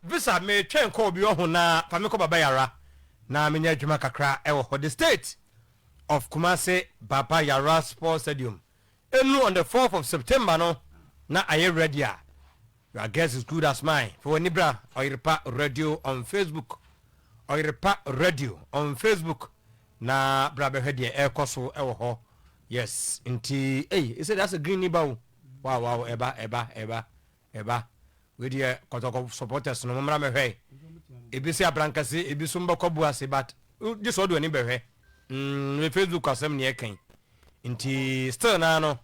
Visa metwɛn kɔ obi ɔho na fa me kɔ baba yara na me nya adwuma kakra ɛwɔ hɔ the state of Kumasi baba yara sport stadium ɛnu on the fourth of September no na ayɛ ready a your guess is good as mine fa wani bra ɔyerepa radio on Facebook ɔyerepa radio on Facebook na bra bɛhwɛ deɛ ɛkɔ so ɛwɔ hɔ yes nti ɛyi ɛsɛ deɛ asɛ green ni ba o wow wow ɛba ɛba ɛba Meba. Wei deɛ kɔtɔkɔ supporters no mommra mɛhwɛ. Ebi se abrankasi, ebi so mbɛkɔ abu ase but gye sɛ ɔde w'ani bɛhwɛ. Mm me Facebook asɛm ne yɛka yi. Nti still naa no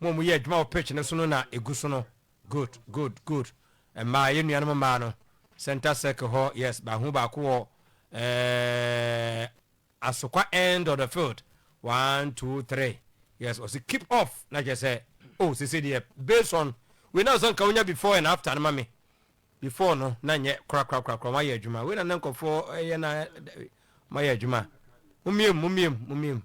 mo a moyɛ adwuma wɔ pitch no so no na egu so no good good good. Mmaa yɛn nuanom mmaa no centre circle hɔ yes bahu baako wɔ ɛɛɛ. Asokwa end of the field one two three yes ɔse keep off na kyerɛ sɛ oh sese deɛ based on wei na ɔsɛ nka wonya before and after no ma me before no na nyɛ korakorakorakora wɔayɛ adwuma wei na na nkɔfoɔ ɛyɛ na wɔayɛ adwuma momiem momiem momiem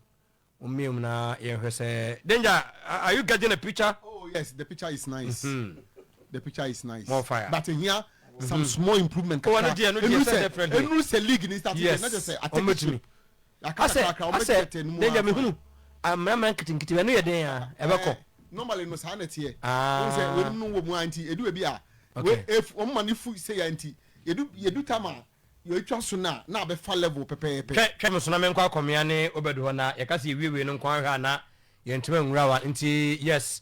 momiem na yɛnhwɛ sɛ danger are you getting a picture oh yes the picture is nice mm -hmm. the picture is nice more fire but here some mhm. small improvement kakra ɔno deɛ no deɛ sɛ ɛdɛ friend ɛnu sɛ league ni start yes ɛnɛ sɛ atɛkisiri asɛ asɛ ne yɛ mi hunu amamra nketenkete ɛnu yɛ den ya ɛbɛkɔ eh, normally no saa na teɛ ɔn sɛ wɔn mu wɔ mu a nti edu ebi a wɔn ma ne fu sɛ ya nti yɛdu yɛdu tam a yɛtwa so na na abɛfa level pɛpɛɛpɛ. twɛ twɛ mu sona menkɔ akɔmea ne obɛdu hɔ na yɛka sɛ yɛwiewie no nkɔ ahwɛ a na yɛntumi nwura wa nti yes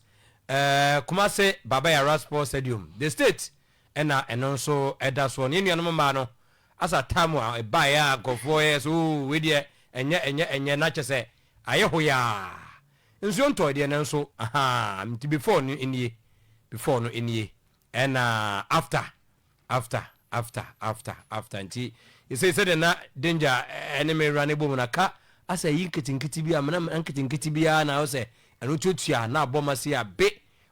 uh, eh, kumase baba yara sports stadium the state ɛna ɛno nso ɛda soɔ ne nuanom mmaa no asa tamu a ɛbaeɛ a nkurɔfoɔ yɛ sɛ oo wei deɛ ɛnyɛ ɛnyɛ ɛnyɛ na kyɛ sɛ ayɛ hoyaa nsuo ntɔe deɛ nanso ahaa nti before no nie before no nie ɛna after after after after after nti ɛsei sɛdeɛ na danger ɛne me wura ne bɔ mu na ka asɛ yi nketenkete bi a mena nketenkete biara na wo sɛ ɛno tuatua na abɔ ma se a be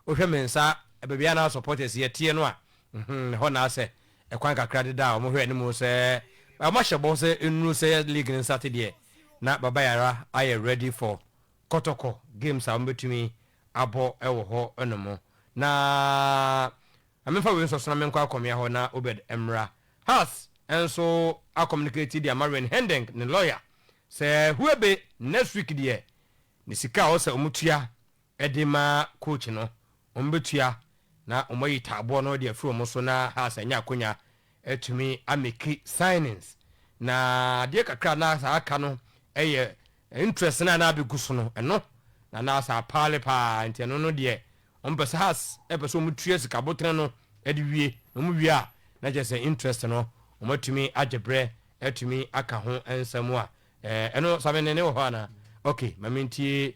Wohwɛ me nsa baabi a na supporters yɛ teɛ no a, mm-hmm, ɛhɔ na asɛ. Ɛkwan kakra deda a wɔhwɛ anim sɛ wɔahyɛ bɔ sɛ nnuru sɛ league no nsate deɛ, na Baba Yara ayɛ ready for kɔtɔkɔ games a wɔbɛtumi abɔ wɔ hɔ nom. Na ma memfa wei nsɔ so na menkɔ akɔmea hɔ na Obed mmra. Hearts nso a communicate de ama Wayne Hendeng ne lawyer sɛ Huebe next week deɛ ne sika a ɔwɔ sɛ wɔtua de ma coach no, wɔbɛtua na wɔayi taaboɔ no de afiri wɔn so na Hearts anya akwanya atumi ameki signings. Na adeɛ kakra a na saa aka no yɛ interest no a na abɛgu so no, ɛno na na saa paale pa ara nti ɛno no deɛ wɔpɛ sɛ Hearts pɛ sɛ wɔtua sika aboterɛ no de wie na wɔwie a na kyerɛ sɛ interest no wɔatumi agye berɛ atumi aka ho nsɛm a ɛno Samene ne wɔ hɔ anaa? Okay, ma mentie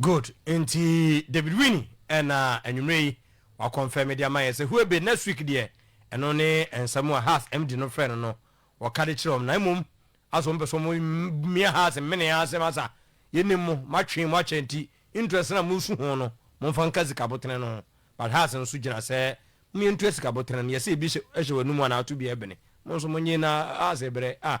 Good nti David Winnie ɛna anwummerɛ yi wa confirm de ama yɛn sɛ Huobe next week deɛ ɛno ne nsɛm a Haas MD no frɛ no no wɔka de kyerɛ wɔn na mmom asɛ wɔn pɛ sɛ wɔn mia Haas mmene yɛn asɛm asa yɛnim mo mo atwee mo akyɛ nti interest no a mosu ho no momfa nka sika botene no ho but Haas nso gyina sɛ mo yɛntua sika botene no yɛsɛ ebi hyɛ w'anum anaa to bi ɛbene mo nso mo nye na Haas ɛbrɛ ah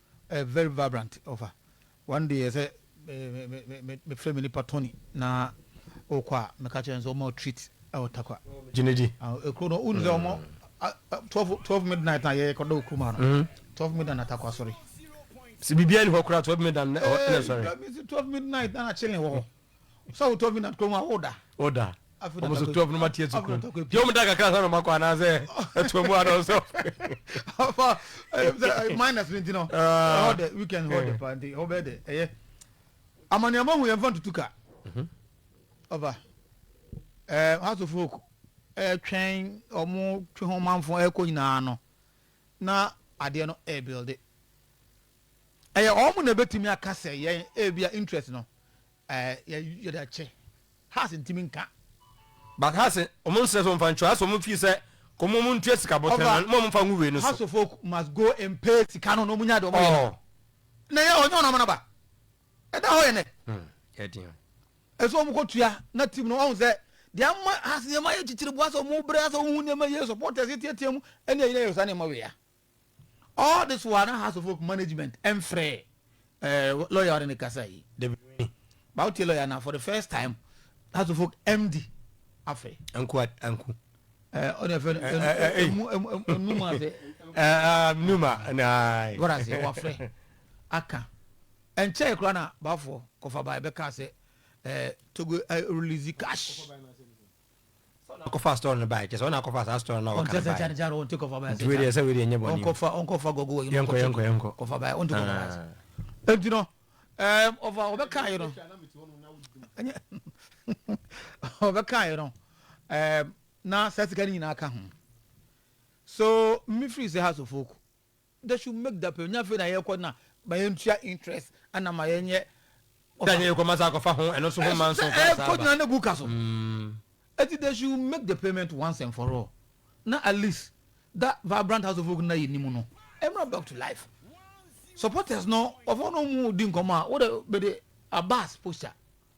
Ɛyɛ very vibrant ɔfa. One day ɛsɛ me frɛ me nipa Tony na ɔkɔ a me ka kyerɛ no sɛ ɔma wo treat ɛwɔ Tarkwa. Gyinidi. Ekuro no wonu sɛ ɔmo twelve twelve midnight na yɛ kɔ da wɔ kurom ha no twelve midnight na Tarkwa sɔre. Sɛ biribiara ni hɔ koraa twelve midnight na ɛsɔre. Twelve midnight na na chilling wɔ hɔ. sɛ wotɔ bi na kurom a woda woda ɔmo so twelve no ma tiɛ tukuro deɛ ɔmo da kakra sɛ na ɔmo akɔ anaasɛ ɛtoa mu anɔ sɛ minus no nti no ɛhɔ dɛ weekend hɔ dɛ paa nti ɛhɔ bɛyɛ dɛ ɛyɛ amane ɔmo hu yɛn fa ntutu ka ɔba ɛɛ house of folk ɛtwɛn ɔmo twe ho manfo ɛkɔ nyinaa no na adeɛ no ɛɛbilde Ɛyɛ wɔn na ɛbɛtumi aka sɛ yɛn ebia interest no ɛɛ yɛde akyɛ. Haas ntumi nka. But Haas wɔn nsrɛ sɛ wɔn fa nkyerɛ Haas wɔn fii sɛ kɔn mu wɔn ntua sika bɔtɛn no na wɔn nfa ngu wei no so. Haas folk must go and pay sika no na wɔn nya de wɔn yɛ no. Na ɛyɛ wɔn nyɛ wɔn amana ba. Ɛda hɔ yɛ nɛ. Hmm, yɛ den. Ɛsɛ wɔn kɔ tua na team no wɔn sɛ deɛ ama Haas nneɛma yɛ kyikyiri bu asɛ wɔn brɛ asɛ wɔn hu nneɛma yie supporters yɛ tiatia mu ɛne ɛyɛ yɛ saa nneɛma wei a. All this while na House of Hope management ɛmfrɛ eh, lawyer ɔne ne kasa yi David Winnie ba wotie lawyer na for the first time House of Hope MD afrɛ anku anku ɔne ɛfɛ no num ase num a na wɔra ase wɔafrɛ aka ɛnkyɛe koraa na bafoɔ kɔfa bae bɛka sɛ eh, togo eh, release cash Sɛ ɔna akɔfa store no bae, kyerɛ sɛ ɔna akɔfa saa store no a wɔka no bae. Nti wei deɛ sɛ wei deɛ ɛnyɛ bɔne o. Yɛnkɔ yɛnkɔ yɛnkɔ. Aah. They should make that payment. Nyɛ afei na yɛkɔ na ma yɛntua interest ɛna ma yɛnyɛ. Sɛ nyɛ yɛkɔ ma saa akɔfa ho ɛno nso ho mma nso koraa saa ba. Ɛkɔgyina ne gu ka so. Ɛti they should make the payment once and for all na at least that vibrant house of oak na yɛnim no ɛmra back to life. Supporters no wɔfɔ no mu di nkɔmɔ a wode bɛde Abbas posture.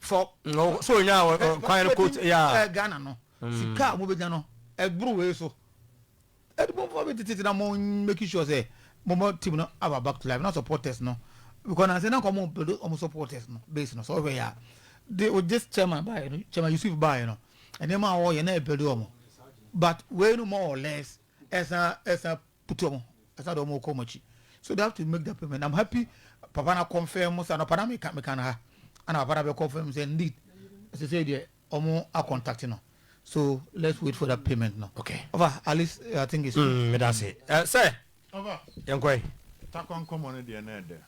fɔ. No so onya kwan no coat ya. Ɛ Ghana no sika a wɔn bɛnya no ɛboro wei so. Ɛdibomfoɔ bi tete na mo make sure sɛ mo mo team no aba back to life na supporters no because nansi na nka wɔn build wɔn supporters no base no sɛ ɔhwɛ ya de o just chairman baayɛ no chairman Yusuf baayɛ no nneɛma a wɔyɛ na ɛbuild wɔn but wei no more or less ɛsan ɛsan. butu ɔmo ɛsɛ ade ɔmo kɔ ɔmo akyi so they have to make the payment i'm happy papa na confirm mo sɛ anɔpa na meka meka no ha ana papa na bɛ confirm sɛ indeed ɛsɛ sɛ deɛ ɔmo a contact no so let's wait for that payment no okay ɔfa at least eh, i think it's good mm, meda se eh, sɛ ɔfa yɛnkɔe takwa nkɔmmɔ no deɛ na ɛdɛ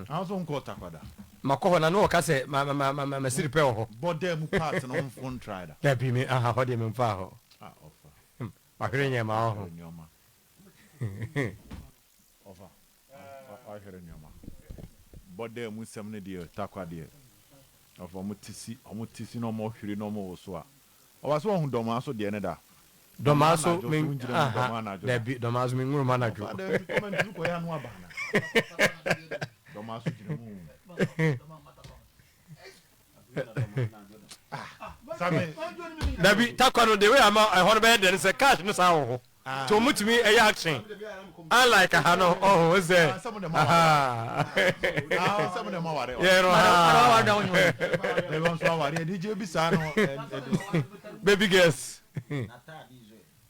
na nso nkɔ takwa da makɔ hɔ na ne wɔka sɛ masiri pɛ wɔ hɔ bɔdɛ mu part no mfo ntrae da dabi me aha hɔ deɛ memfaa hɔ ah, ɔfa Wahwere nneɛma ɔho. Wahwere nneɛma. Ɔfa. Wahwere nneɛma. Bɔ dɛ mu nsɛm no deɛ takwa deɛ. Ɔfa ɔmo ti si ɔmo ti si na ɔmo hwere na ɔmo woso a. Ɔfa so ɔho dɔmaa so deɛ no da. Dɔmaa so me aha dabi dɔmaa so me nwura mu anadwo. Ɔfa dɛ nti kɔma ntumi kɔ yɛ ano aba ana. Dɔmaa so gyina mu. dabi takwa no de wei ama ɛhɔ no bɛyɛ dɛ no sɛ cash no saa wɔ hɔ nti wɔn tumi ɛyɛ action unlike aha no ɔho ɛsɛ aha yɛ no ha baby girls.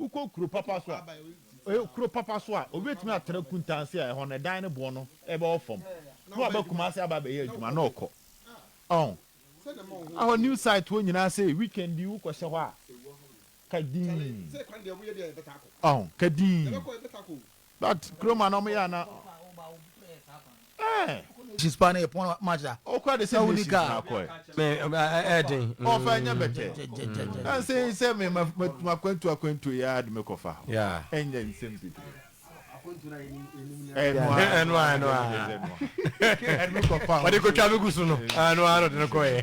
Wokɔ kuro papa so a, eh, kuro papa so a, obi betumi atra Kuntansi a ɛhɔ no ɛdan no boɔ no ɛbɛwɔ fam, na waba Kumasi aba abɛyɛ adwuma na ɔkɔ. Ɔn. Ɛhɔ new site hɔ nyinaa sɛ weekend bi wokɔ hyɛ hɔ a, ka dinn. Ɔn, ka dinn. That kurom a na ɔmo yɛ a na. Ɛɛ. She's pa na yɛ pɔn match da. Okura de sɛ nations na akɔɛ. Me ɛɛ den. Ɔfa ɛnyɛ bɛtɛ. Ɛnsɛ yi sɛ me ma ma akwantu akwantu yɛ adi me kɔfa. Ɛnyɛ nsɛm bebree. Ɛnua ɛnua ɛnua. Ɛdi me kɔfa. Ɔdi ko twa mi gu so no. Ɛnua no de ne kɔ yɛ.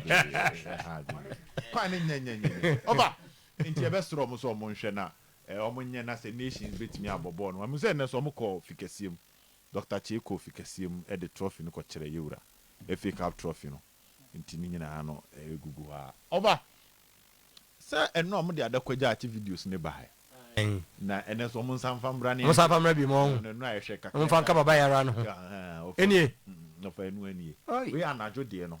Kwan ne nyɛ nyɛ nyɛ. Ɔba nti ɛbɛ srɔ ɔmo sɛ ɔmo nhwɛ na Eh, ɔmo nyɛ na sɛ Nations bɛtumi abɔ bɔɔl no, mahu sɛ nnɛ nso ɔmo kɔ fi kɛseɛ mu. Doctor Kyei kɔɔ fi kɛseɛ mu de trɔfi no kɔkyerɛɛ Yewura, FA Cup trɔfi no, nti ne nyinaa no ɛgugu hɔ a. Ɔba sɛ ɛno a ɔmo de adakɔgya akye videos no baeɛ, na ɛnnɛ nso ɔmo nsa mfa mmra ne nhwɛ, ɛno ɛno a ɛhwɛ kakra ɛhwɛ a, ɛhwɛ a, ahaa, ɔfa ɛnu anie, wei anadwo deɛ no.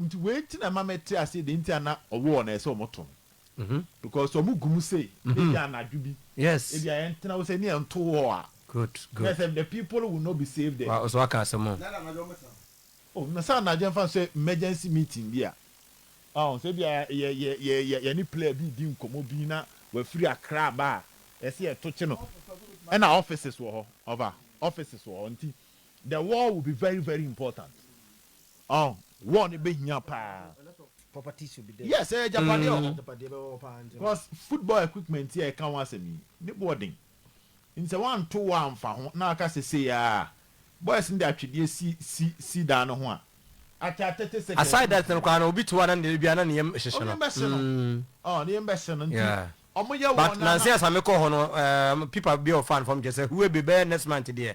Nti wei nti na ɛma mɛte aseɛ deɛ nti a na ɔwɔ no ɛsɛ sɛ wɔn to no because wɔn gu mu sei na ebi anadwo bi ebi a yɛn tena hɔ sɛ ni yɛn to hɔ a na ɛsɛ the people will not be saved there. Wa ɔsɛ waka asɛm o. Oh na sɛ anadwo ɛnfa nso yɛ emergency meeting bi a ɔn sɛ ebi a yɛ yɛ yɛ yɛ yɛne player bi redi nkɔmɔ bi na wafiri Accra aba a ɛsɛ yɛ to kye no ɛna offices wɔ hɔ ɔfa offices wɔ hɔ nti the wall will be very very important. Ɔn, war no bɛhia paa. Yes, ɛyɛ agyapadeɛ wɔ hɔ. Cos football equipment yi a yɛka ho asɛm yi, ne boɔ den. Ntisɛ woanto war amfa ho na waka sɛ sei aa, boys no de atwedeɛ si si si dan no ho a, ataa thirty seconds na Aside that no koraa no, obi to war no a na ebia na ne yam hyehye no. Ɔmo yam bɛhye no. Ɔn, ne yam bɛhye no. Nti Yeah. ɔmo yɛ war But no a na. nansa yi asa mekɔ hɔ no, ɛɛm, pipa bi a ɔfaa no fam kyerɛ sɛ huebe bɛyɛ next month deɛ,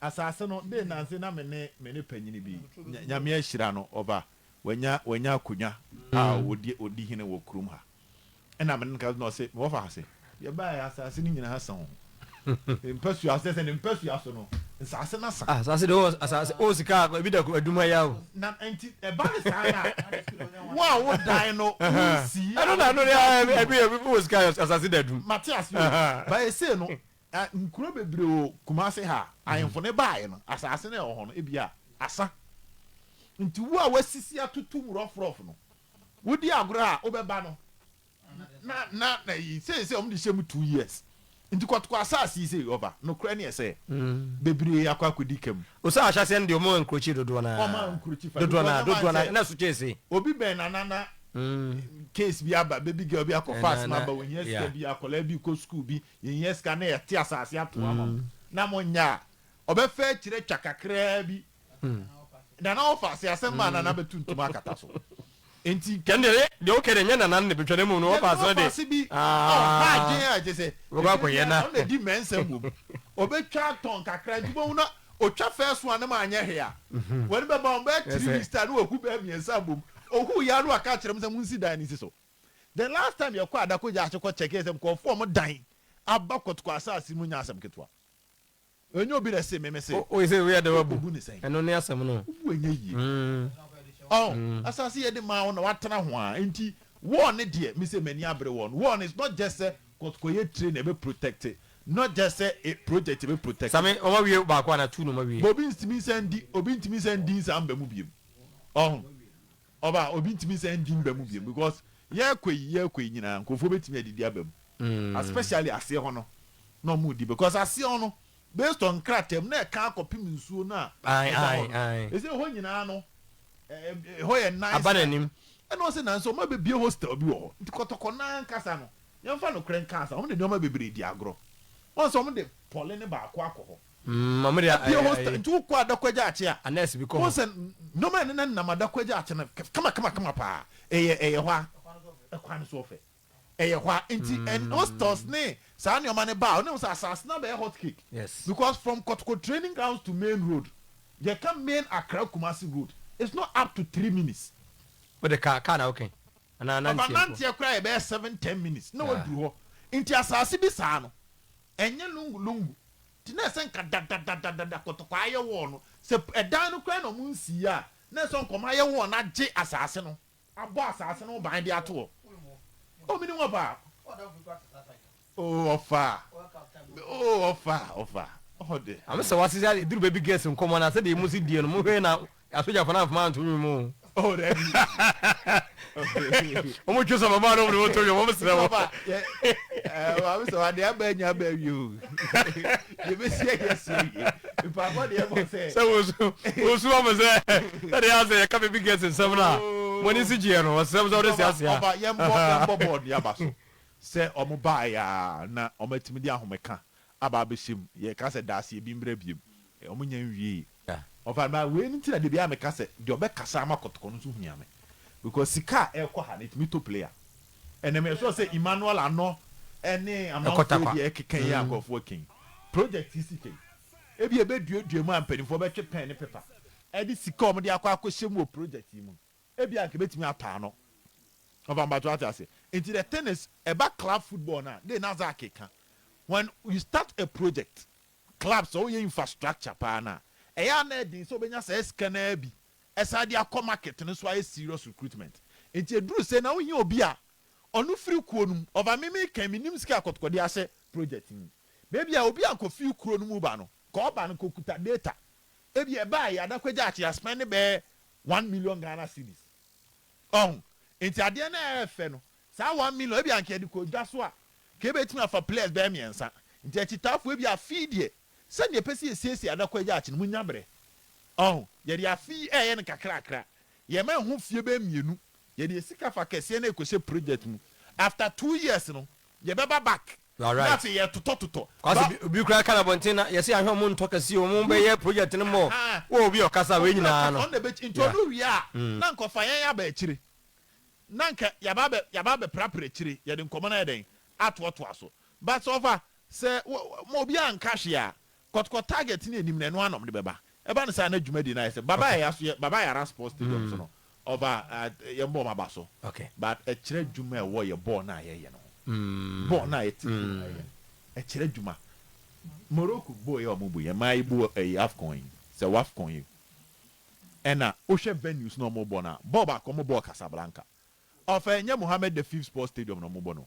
Asase no dee nanse na me ne me ne panyini bi, Nyame ahyira no, ɔba, wanya wanya akonwa a ɔdi ɔdi hene wɔ kurom ha. Ɛna me ne no kasa na ɔse, me wɔfa ha se, yɛbaeɛ asase no nyinaa sa o, ne mpasua kyerɛ sɛ ne mpasua so no nsase no asa. Ah, asase deɛ ɔwɔ asase, ɔwɔ sika a ebi da adum ayɛ a o. Na nti ɛba ne saa no a, wo a wo dan no wo nsii a, ɛno na ɛno deɛ ɛbi ɛbi wɔ sika a asase da adum. Mate aseɛ o, but ɛsei no Na nkuro bebree wɔ Kumase ha a ahemfo no baeɛ no, asase no a ɛwɔ hɔ no, ebia asa. Nti wo a woasisi atoto mu rɔfrɔf no, wodi agorɔ a, wobɛba no. Na, na, na yi, seesei wɔn de hyɛ mu two years. Nti kɔ, kɔ asase yi sei, ɔba. Nokorɛ neɛ sɛ, bebree akɔ akɔdi ka mu. O sɛ ahyɛseɛ no deɛ wɔn ankurokyi dodoɔ no ara. Wɔn ankurokyi fa. Dodoɔ no ara, Because wɔn dodoɔ no ara, ansɛ, na so kyɛɛ sei. obi bɛn na na, na case bi aba, baby girl bi akɔfa Ɛna, asem na, aba, ohia sika yeah. bi, akwadaa bi rekɔ sukuu bi, Yɛhia sika na yɛte asase ato ama mo na monyɛ a, ɔbɛfa akyire twa kakraa bi. Nana ɔfa ase asɛm maa Nana bɛtu ntoma akata so. Enti. Ɛnde ɛyɛ deɛ wokɛ deɛ ɛnyɛ Nana no na ɛbɛtwa na mmom no ɔfa ase no deɛ. Ɔfa ase bi a ɔha adwene a kyerɛ sɛ ɛberɛ biara ɔno na ɛdi mmɛnsɛm wɔ mu. Ɔbɛtwa atɔn kakra nti wobɛhu na ɔtwa first one no ma anyɛ hwee a, w'ani bɛba ho bɛyɛ three weeks time na wahu bɛɛ mmiɛnsa abom. Ɔhuu yɛ a na waka akyerɛ mo sɛ monsi dan no nsi so. The last time yɛkɔɔ Adako Gyaase kɔ check yɛ sɛ nkurɔfoɔ ɔmo dan aba Kotoko asaase mu nyɛ asɛm ketewa. Ɛnyɛ obi na ɛsee me, me se. Woyi sɛ woyɛ dɛw abu, obu ne sɛn? Ɛno ne asɛm no. Wobu ɛnyɛ yie. Ɔho, asaase yɛde maa wo na woatena ho aa nti wɔɔ ne deɛ me se m'ani abere wɔɔ no. Wɔɔ no it's not just sɛ Kotoko yɛ tire na ɛbɛ protect, not just sɛ e project ɛbɛ protect. Same, wɔn awie baako anaa two na wɔn awie. But obi ntumi nsan ndi, obi ntumi nsan ndi nsa mba mu biom. Ɔho. Ɔba a obi ntumi nsan ndi mba mu bio because yɛkɔ yi yɛkɔ yi nyinaa nkorɔfoɔ bɛtumi adidi aba mu especially aseɛ hɔ no na ɔmo di because aseɛ hɔ no based on nkrataa mu na ɛka akɔpem nsuo no a ɛda hɔ no ɛsɛ ɛhɔ nyinaa no ɛhɔ yɛ nice nice ɛna ɔsɛ nanso ɔmo abɛbie hostel bi wɔ hɔ nti kɔtɔkɔ no ankasa no yɛmfa nokorɛ nka ansa ɔmo de nnoɔma bebree di agorɔ wɔn sɛ ɔmo de pɔle no baako akɔ hɔ Apia hostel nti wokɔ Adakwagya Akye a, wohu sɛ nnoɔma a ɛnenam Adakwagya Akye no kamakamakama paa. Ɛyɛ hɔ a, kwan no so ɔfɛ. Ɛyɛ hɔ a, nti hostels ne saa nnoɔma no ba a, wone hu sɛ asaase no abɛyɛ hot cake because from Kɔtoko training grounds to main road, yɛka main Accra Kumasi road, it's not up to three minutes. Wode car, car na woka yi? Anaa nanteɛ mpo? Ɔfa nanteɛ koraa a ɛbɛyɛ seven, ten minutes na waduru hɔ. Nti asaase bi saa no, Ɛnyɛ lungu lungu nti na ɛsɛ nka dadadadadada kɔtɔkɔ ayɛ wall no. Sɛ ɛdan no koraa na wɔn nsii yɛ a, na ɛsɛ nka wɔn ayɛ wall no agye asaase no, abɔ asaase no ho ban de ato hɔ. Oh, menim hɔ paa. Oh, ɔfa. Oh, ɔfa, ɔfa. Hɔ de. Ame sɛ wase sɛ aduru baby girls nkɔmɔ na sɛdeɛ emu si die no mohwɛ na Asogyafo no amfom anto nwom mu o. Oh dabi oh. Wɔn twi sɛ ɔbɛbɔ ano wɔn de wɔn to nwom wɔn srɛ wɔn. Papa yɛ ɛɛ maame sɛ ade aba anya aba awie o. Yɛ bɛ si ɛyɛ si oye. Mpaabɔ deɛ bɔ sɛ. Sɛ wosu wosu wɔn sɛ sɛ deɛ asɛ yɛ ka baby girls nsɛm na wɔn ani si gyeɛ no wɔsrɛ wɔn sɛ wɔde si aseɛ. Papa yɛn bɔ yɛn bɔ bɔɔl nua ba so sɛ wɔn baa yɛ a na wɔn atumi de ahome ka aba abɛhyɛ mu. Yɛka sɛ daa sɛ bi mmra biom. Wɔn nnya nwiee. Ɔfa na wei nti na dabiaa meka sɛ deɛ ɔbɛkasa ama kɔtɔkɔ no nso hia me because sika a ɛkɔ ha no ɛtumi tɔ player ɛnɛ me sure sɛ Emmanuel Anɔ ɛne amanfoɔ bi a ɛkeka yi a nkorɔfoɔ ɛka yi project yi sika yi ebia ɛbɛduadua mu a mpaninfoɔ bɛtwe pen ne paper ɛde sika a wɔde akɔ akɔhyɛ mu wɔ project yi mu no Ebia anka ebetumi ataa no. Ɔfa mpato ate ase. Nti the thing is, ɛba club football no a, dee na Zack reka. When you start a project, club sɛ woyɛ infrastructure paa no a, ɛyɛ a na ɛden sɛ wobɛnya saa sika no ara bi san de akɔ market no so ayɛ serious recruitment. Nti ɛduru sei na wohia obi a ɔno firi kuo no mu. Ɔfa me meka yi, mennim sika a Kɔtɔkɔ de ahyɛ project yi mu. But ebia obi a anka ɔfiri kuro no mu ba no, nka ɔba no, nka ɔkuta data. Ebia ɛbaeɛ, Adakwagya Akyea spend bɛyɛ one million Ghana cedis. Ɔho? Nti adeɛ no a ɛɛfɛ no, saa one million, ebia nka yɛde kɔ dwa so a, nka yɛbɛtumi afa players bɛyɛ mmiɛnsa. Nti akyitaafoɔ ebia afe yi deɛ, sɛdeɛ yɛpɛ sɛ yɛsiesie adako agya akye no, mo nya berɛ. Ɔho? Yɛde afe yi ɛɛyɛ no kakrakra. Yɛma ɛho fie bɛyɛ mmienu, yɛde yɛn sika fa kɛseɛ na ɛkɔhyɛ project mu. After two years no, yɛbɛba back. You are right. Na afei yɛtotɔ totɔ. Kwase Ba. obi koraa ka nabɔnten na yɛse ahwɛ ɔmo ntɔ kɛseɛ ɔmo Good. bɛyɛ project no more Ahaa. wo obi ɔkasa wei Obi nyinaa ɔkasa no ɔno na ɛbɛkyi. Nti yeah ɔno wie a mm. na anka ɔfa yɛn aba akyire. Na anka yɛaba abɛ yɛaba abɛprapra akyire yɛde nkɔmɔ no ayɛ dɛn? Atoatoa so. But sɛ ɔfa sɛ wo wo ma obiara nka hwee a Kɔtɔkɔ target ne anim no ɛno ara na wɔde bɛba. Ɛba no saa na dwumadi no ayɛ sɛ Baba Yaya so yɛ Baba Yara Sports Stadium so no ɔfa yɛn bɔɔl ma ba so but ɛkyerɛ adwuma a ɛwɔ yɛ bɔɔl no a yɛyɛ no ho. Bɔɔl no a yɛte fam a yɛyɛ no ɛkyerɛ adwuma. Morocco bɔɔl yi a wɔbu yɛn maa yɛbu ɛyi Afcon yi sɛ Wafcon yi ɛna wohwɛ venues no a wɔbɔ no a bɔɔl baako a wɔbɔɔ Casablanca ɔfa ɛnyɛ Mohammed the fifth Sports Stadium na wɔbɔ no.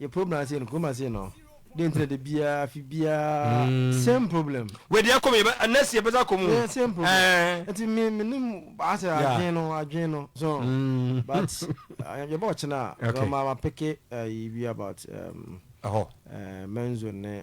yɛ problem ase no kurom ase no de ntina de biara afi biara mm. same problem. wɛdi akɔ mu yɛ nɛsi yɛ bɛ akɔ mu. yɛ same problem ɛɛ eh. nti mi mi ni asɛ adwene no adwene no so mm. but eh, yɛ bɛ ɔkyina okay. so ma ma peke ɛyi eh, bi about ɛhɔ um, menzo ne.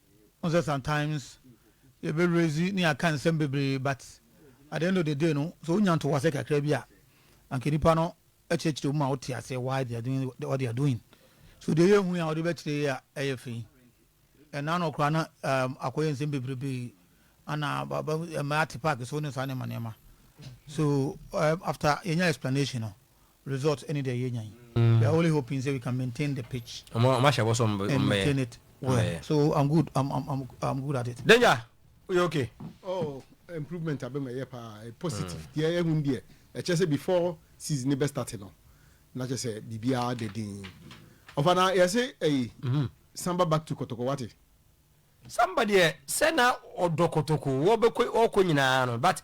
Wohu sɛ sometimes yɛbɛ raise ne yɛaka nsɛm bebree but at the end of the day no sɛ wonya ntoboaseɛ kakra bi a anka nnipa no kyerɛkyerɛ wo ma wote aseɛ why they are doing what they are doing. So deɛ yɛhu yi a wode bɛkyerɛ yi a ɛyɛ fɛ yi ɛna no koraa na um, akɔyɛ nsɛm bebrebe ana ɛma ate park so ne saa nneɛma nneɛma. So um, after yɛnya explanation no Result ɛne deɛ yɛnya yi. We are only hoping sɛ we can maintain the pitch. Ɔmo ahyɛ bɔ sɛ ɔmo bɛyɛ. And maintain it well. So I'm good, I'm good at it. Danger, woyɛ okay? Oh, improvement aba mu, ɛyɛ paa, ɛyɛ positive. Deɛ yɛhu no deɛ, ɛkyerɛ sɛ before season no bɛ start no, na kyerɛ sɛ biribiara da din. Ɔfa na yɛse ɛyi, samba back to kɔtɔkɔ, wate? Samba deɛ, sɛ na ɔdɔ kɔtɔkɔ, ɔbɛkɔ, ɔkɔ nyinaa no, but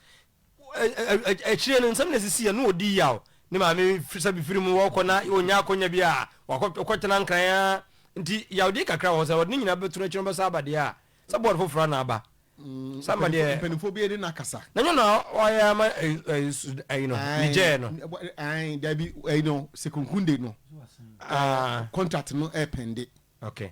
akyire no nsɛm na ɛsisiiɛ na ɔdi yaw ne maame sɛ bifiri mu wɔkɔ na ɔnya akɔnya bi a wɔkɔtena nkran a nti yawdeɛ kakra wɔ hɔ sɛ ɔde ne nyinaa bɛto no akyi no bɛsa aba deɛ a sɛ bɔɔd foforɔ na aba mm, sama deɛ mpanimfoɔ bi de no akasa na nyɛ na ɔyɛ ama ayi no ne gyɛɛ no dabi ayi no sekunkunde no ah. contract no ɛpɛnde okay.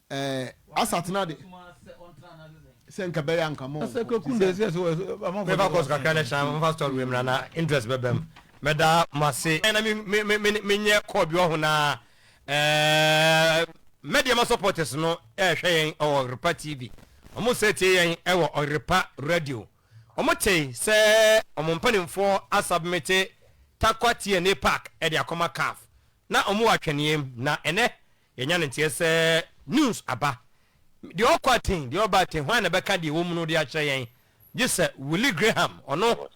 Eh asatena de sɛ nka bɛyɛ anka mo sɛ kwaku de sɛ so me fa course kakra ne hyɛ me fa store wei mra na interest bɛbɛm mɛda mo ase na me me me me nyɛ call bi ɔho na eh mɛdeɛ ma supporters no ɛhwɛ yɛn ɛwɔ Ɔyerepa TV ɔmo sɛ tie yɛn ɛwɔ Ɔyerepa radio ɔmo te sɛ ɔmo mpanimfoɔ asubmite Tarkwa TNA Park ɛde akɔma CAF na ɔmo wɔ atwɛneɛm na ɛnɛ Yɛanya no nteɛ sɛ news aba. Deɛ ɔkɔ aten, deɛ ɔba aten, hwan na ɛbɛka deɛ ɛwɔ mu no de akyerɛ yɛn gye sɛ Willie Graham, ɔno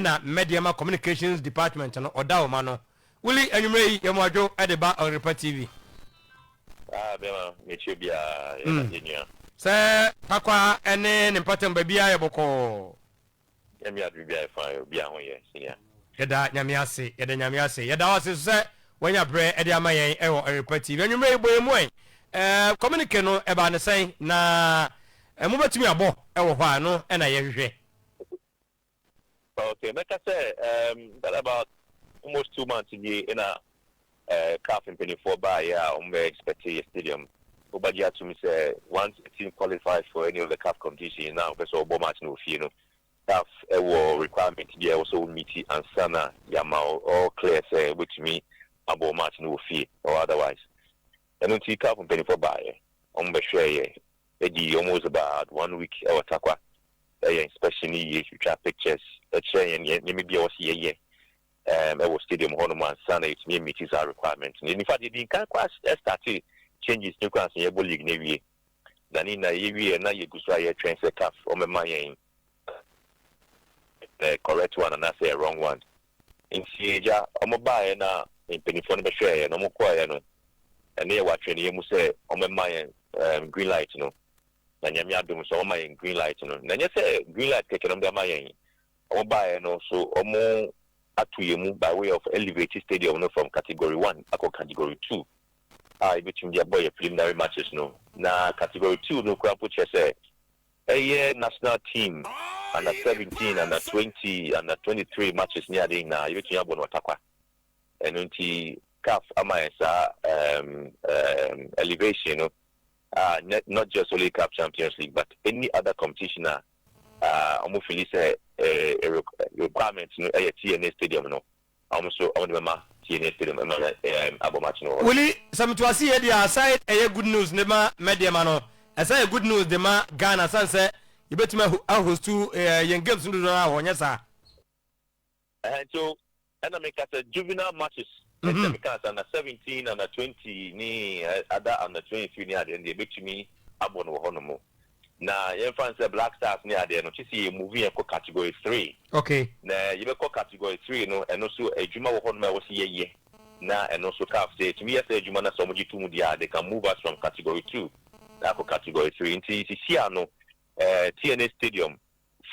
na Mmɛdeɛma Communications Department no ɔda wo ma no. Willie, anwummerɛ yi, yɛ mo adwo de ba Ɔyerpa TV. Ah, bɛma mekyerɛ biara, yɛda, yɛnua. Sɛ Pakwaa ne ne mpatam baabiara yɛ bɔkɔɔ. Nyame yɛ ade biribi ayɛ fine obi a ho yɛ senior. Yɛda Nyame ase yɛda Nyame ase yɛda wo ase nso sɛ wanya berɛ de ama yɛn wɔ Awerepa TV anwummerɛ yi bɔ yɛn mu ɛn ɛɛ communique no ɛbaa no sɛn na mobɛtumi abɔ wɔ hɔ a ɛno na yɛhwehwɛ. Okay mɛka sɛ ɛɛm that about almost two months nie na Caf mpaninfoɔ baeɛ a wɔn bɛ expect yɛ stadium wo ba gye atom sɛ once a team qualifies for any of the Caf competition na ɔpɛ sɛ ɔbɔ match no wɔ fie no Caf wɔ requirement bi a ɛwɔ sɛ wo meet ansa na yɛama wo all clear sɛ wo bɛtumi abɔ wo match no wɔ fie or otherwise ɛno nti Caf mpaninfoɔ baeɛ wɔn bɛ hwɛɛ yɛ ɛdi almost about one week ɛwɔ Tarkwa ɛyɛ inspection no yie twitwa pictures ɛkyerɛ yɛn nneɛma bi a ɛwɔ sɛ yɛyɛ ɛɛm wɔ stadium hɔ nom ansa na yɛtumi amiti saa requirement no. In fact yɛdi nkan koraa startee changes no koraa ansa yɛbɔ league no awie. Na ne nyinaa yɛwieɛ na yɛgu so a yɛtwɛn sɛ caf wɔbɛma yɛn the correct one anaasɛ wrong one. Nti agya wɔbaaeɛ na mpanimfoɔ no bɛhwɛeɛ na wɔkɔeɛ no ɛne yɛwɔ atweneɛ mu sɛ wɔbɛma yɛn ɛɛm green light no. Na Nyame adom nso wɔama yɛn green light no. Na ɛnyɛ sɛ green light kɛkɛ na wɔde ama yɛn. Ɔmo baeɛ no so ɔmo ato yɛn mu by way of elevate stadium no from category one akɔ category two a yɛbɛtumi de abɔ yɛn preliminary matches no na category two no koraa mpo kyerɛ sɛ ɛyɛ national team under seventeen under twenty under twenty three matches ne adeɛ nyinaa yɛbɛtumi abɔ no ɔtakwa ɛno nti caf ama yɛn saa ɛɛm ɛɛm elevation no Ah nɛ not just only caf champions league but any other competition a ah ɔmo fili sɛ eh requirement no ɛyɛ tna stadium no ɔmo nso ɔmo de bɛma tna stadium ɛma yɛ eh abɔ match no wɔ hɔ. Wuli, sɛ me to ase yie deɛ aside ɛyɛ good news de ma Medeama no, ɛsan yɛ good news de ma Ghana sane sɛ yɛbɛtumi ahostu yɛn games no dodoɔ no ara wɔ hɔ, nyɛ saa? Ɛhɛn nti o ɛna meka sɛ juvenile matches ne sɛ meka sɛ under seventeen under twenty ne ada under twenty three ne adeɛ no deɛ ɛbɛtumi abɔ no wɔ hɔ nom na yɛmfa no sɛ black stars ne adeɛ no kyese yɛ move yɛn kɔ category three okay na yɛbɛkɔ category three no ɛno so adwuma wɔ hɔ nom a ɛwɔ sɛ yɛyɛ na ɛno so caf sɛ ɛtumi yɛ sɛ adwuma no sɛ ɔmo gye to mu deɛ a they can move us from category two akɔ category three nti sisi ano eh, tna stadium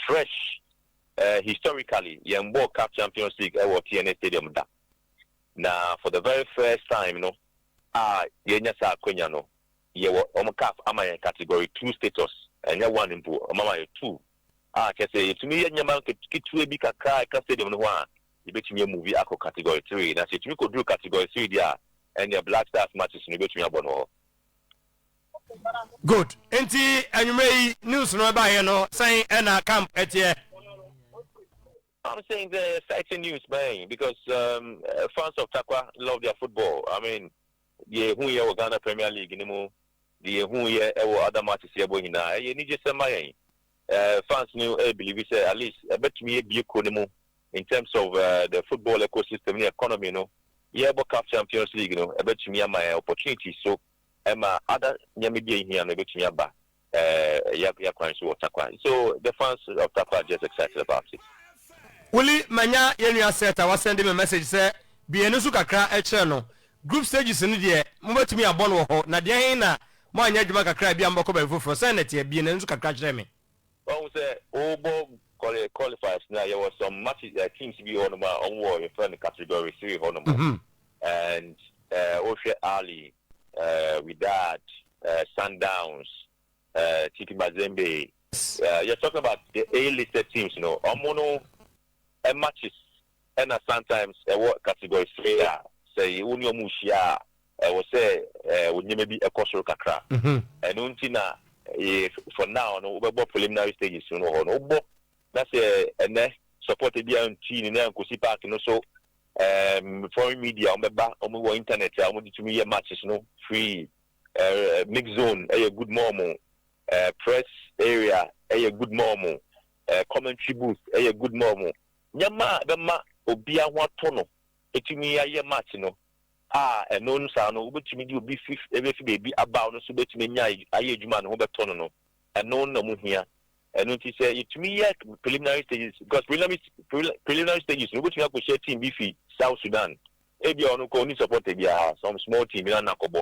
Fresh, eh, Historically, yɛmbɔɔ caf Champions League wɔ TNA Stadium da. Na for the very first time no a yɛanya saa akwanya no, yɛwɔ, wɔn caf ama yɛn Category Two status, ɛnyɛ one mpo, wɔn ama yɛn two, a kyerɛ sɛ yɛtumi yɛ nneɛma nketewa bi kakra a ɛka stadium no ho a, yɛbɛtumi amuvi akɔ Category Three. Na sɛ yɛtumi kɔduru Category Three deɛ a, ɛnneɛ Black Stars matches no yɛbɛtumi abɔ no wɔ hɔ. Good. Nti anwummerɛ yi news no ɛbaeɛ no sɛn ɛna camp ɛteɛ? I'm saying the exciting news man because um, uh, fans of Takwa love their football. I mean, the who ye Ghana Premier League ni mu, the who ye ewo other matches ye bo hina. Eye ni je sema yen. Uh, fans ni e believe say at least e betumi ye bi ko ni mu in terms of uh, the football ecosystem ni economy no. Ye bo CAF Champions League no e betumi ama opportunities so ɛma other nneɛma bi a ehia no ebetumi aba yɛa kwan so wɔ Tarkwa so the fans of Tarkwa are just excited about it. Willy manya yɛn nua Seth a wasɛnde me message sɛ bue yɛn ani so kakra kyerɛ no, group stages no deɛ mobɛtumi abɔ no wɔ hɔ, na deɛn na moanyɛ adwuma kakra a ebia mobɛkɔ baabi foforɔ, sɛn na ɛteɛ? Bue n'ani so kakra kyerɛ me. Wahu sɛ wobɔ kɔle qualifiers no a yɛwɔ some matches eh, teams bi hɔ nom a wɔn wɔ yɛfrɛ no category three hɔ nom Mhm. and eh, wohwɛ Ali, eh, Wydad, eh, Sundowns, eh, TP Mazembe, eh, you're talking about the A-listed teams no, wɔn no eh, matches Ɛna sometimes ɛwɔ category fei a sɛ wo ne ɔmo hyia a ɛwɔ sɛ wo nneɛma bi kɔ soro kakra. Ɛno nti na for now no wobɛbɔ preliminary stages no wɔ hɔ no wobɔ na sɛ ɛnɛ support ebi a nti no na ɛnkosi park no so ɛɛm foreign media ɔmo bɛba ɔmo wɔ internet a ɔmo de tumi yɛ matches no free ɛɛ mix zone ɛyɛ good ma ɔmo ɛɛ press area ɛyɛ good ma ɔmo ɛɛ commentary booth ɛyɛ good ma ɔmo. Nneɛma a ɛbɛma obiara ho atɔ no betumi ayɛ match no, a ɛno no saa no wobetumi de obi fi ebefi baabi aba a ɔno nso betumi anya ayɛ adwuma a ne ho bɛtɔ no no, ɛno na mu hia. Ɛno nti sɛ yetumi yɛ preliminary stages, because preliminary preliminary stages no wobetumi akɔhyia team bi fi South Sudan, ebia ɔno koraa onni supporter biara, some small team bi na na akɔbɔ.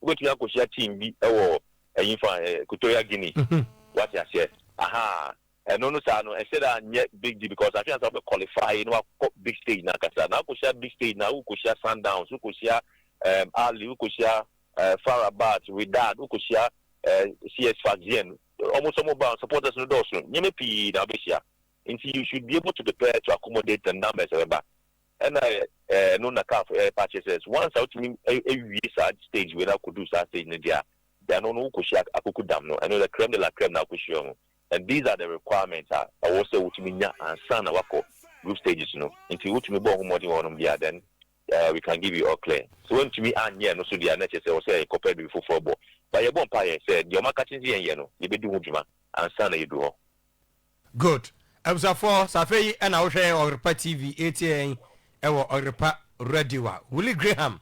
Wobetumi akɔhyia team bi wɔ ɛyi fa, Equatorial Guinea, wate aseɛ? Ahaa. Ɛno no saa no ɛsɛ da nyɛ big deal because afei ansa wobɛ qualify na wakɔ big stage no ankasa na wokɔhyia big stage no a wokɔhyia Sundowns, wokɔhyia ɛɛm Ahly, wokɔhyia ɛɛ Far Rabat, Wydad, wokɔhyia ɛɛ CS Sfaxien, wɔn nso wɔn ba wɔn supporters no dɔɔso, nneɛma pii na wobɛhyia nti you should be able to prepare to accommodate the numbers a ɛbɛba ɛna ɛno na CAF ɛɛpa akyerɛ sɛ once a wotumi awie saa stage wei na akɔduru saa stage no deɛ a deɛ ɛno no wokɔhyia akoko dam no ɛno the creme de la creme na wokɔhyia wɔn. and these are the requirements a ɛwɔ sɛ wotumi nya ansa na woakɔ group stages no nti wotumi bɔ ho mmɔden wɔ hɔnom deɛ a then uh, we can give you all clear sɛ woantumi anyɛ ɛno so deɛ a na ɛkyɛ sɛ ɛwɔ sɛ yɛkɔpɛ biribi foforɔ bɔ ba yɛbɔ mpaeɛ sɛ deɛ ɔmaka kye sɛ yɛnyɛ no yɛbɛdi ho dwuma ansa na yɛdu hɔ Good. Abusuafoɔ, sɛ afei yi ɛna wohwɛ Ɔgrepa TV ɛretie yɛn ɛwɔ Ɔgrepa Radio a, Willie Graham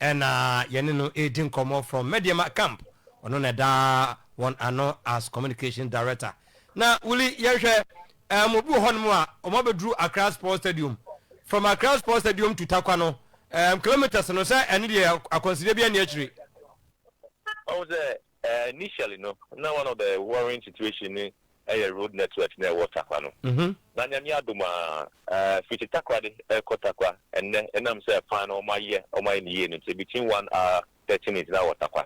Ɛna yɛne no redi nkɔmmɔ from Medeama camp, ɔno na ɛda wɔn ano as communication director. Na Willy yɛnhwɛ, um obi wɔ hɔnom a wɔn abɛduru Accra Sports Stadium, from Accra Sports Stadium to Tarkwa no, um kilometres no sɛ ɛno deɛ akwansideɛ biara nni akyire? Ɔhu sɛ Eh initially no na one of the worrying situation ne ɛyɛ road network na ɛwɔ Tarkwa no na Nyame adom a eh fiti Takoradi ɛkɔ Tarkwa ɛnnɛ ɛnam sɛ kwan no wɔn ayɛ wɔn ayɛ no yie no nti between one hour thirty minutes na wɔ Tarkwa